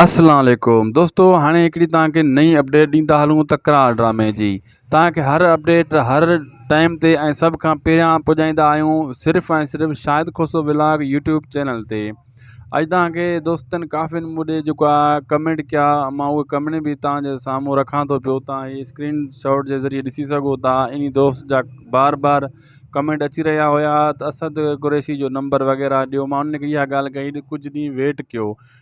اسلام عليڪم دوستو هاڻي هڪڙي توهان کي نئين اپڊيٽ ڏيندا هلون تڪرار ڊرامي جي توهان کي هر اپڊيٽ هر ٽائيم تي ۽ سڀ کان پهريان پڄائيندا آهيون صرف ۽ صرف Shahid Khoso vlog YouTube channel تي اڄ توهان کي دوستن ڪافين مون ڏي جيڪا ڪمينٽ ڪيا مان اهي ڪمينٽ به توهان جي سامهون رکان ٿو پيو توهان هي اسڪرين شاٽ جي ذريعي ڏسي سگهو ٿا انهي دوست جا بار بار ڪمينٽ اچي رهيا هيا ته اسد قريشي جو نمبر وغيره ڏيو مان ان کي اها ڳالهه ڪئي ته ڪجهه ڏينهن ويٽ ڪيو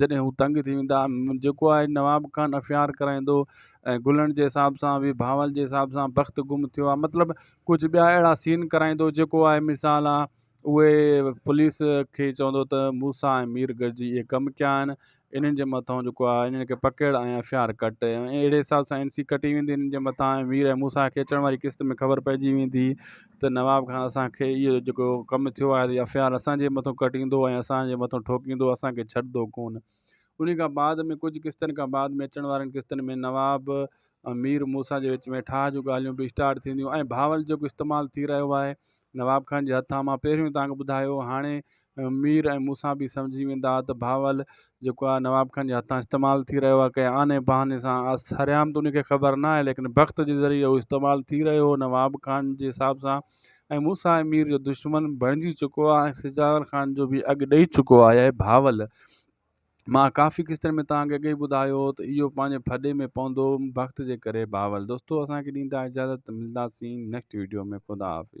جڏهن هو تنگ ٿي ويندا، جيڪو آهي نواب خان افيار ڪرائيندو ۽ گلڻ جي حساب سان به بهاول جي حساب سان بخت گم ٿيو آهي مطلب ڪجهه ٻيا اهڙا سين ڪرائيندو جيڪو آهي مثال آ اهي پوليس کي چوندو ته موسيٰ ۽ مير گڏجي اهي ڪم ڪيا آهن انهن جي مٿان جيڪو آهي انهن کي پڪڙ ۽ افيار ڪٽ ۽ اهڙي حساب سان اين سي ڪٽي ويندي انهن جي مٿان ۽ مير ۽ موسيٰ کي اچڻ واري قسط ۾ خبر پئجي ويندي ته نواب خان اسان کي اهو جيڪو ڪم ٿيو آهي يا فيار اسان جي مٿو ڪٽيندو ۽ اسان جي مٿو ٺوڪيندو اسان کي ڇڏندو ڪونه انهي کان بعد ۾ ڪجهه قسطن کان بعد ۾ اچڻ وارين قسطن ۾ نواب ۽ مير موسيٰ جي وچ ۾ ٺاهه جون ڳالهيون به اسٽارٽ ٿينديون ۽ بهاول جيڪو استعمال ٿي رهيو آهي نواب خان جي هٿان مان پهريون تانکي ٻڌايو هاڻي مير ۽ مون سان به سمجهي ويندا ها ته بهاول جيڪو آهي نواب خان جي هٿان استعمال ٿي رهيو آهي ڪنهن آني بهاني سان آ سرعام ته ان کي خبر نه آهي ليڪن بخت جي ذريعي هو استعمال ٿي رهيو هو نواب خان جي حساب سان ۽ مون سان ۽ مير جو دشمن بڻجي چڪو آهي ۽ سجاول خان جو به اڳ ڏئي چڪو آهي اي بهاول مان ڪافي قسطن ۾ توهان کي اڳ ئي ٻڌايو هو ته اهو پنهنجي ڦڏي ۾ پوندو بخت جي ڪري بهاول دوستو اسان کي ڏيندا اجازت ملنداسين نيڪسٽ ويڊيو ۾ خدا حافظ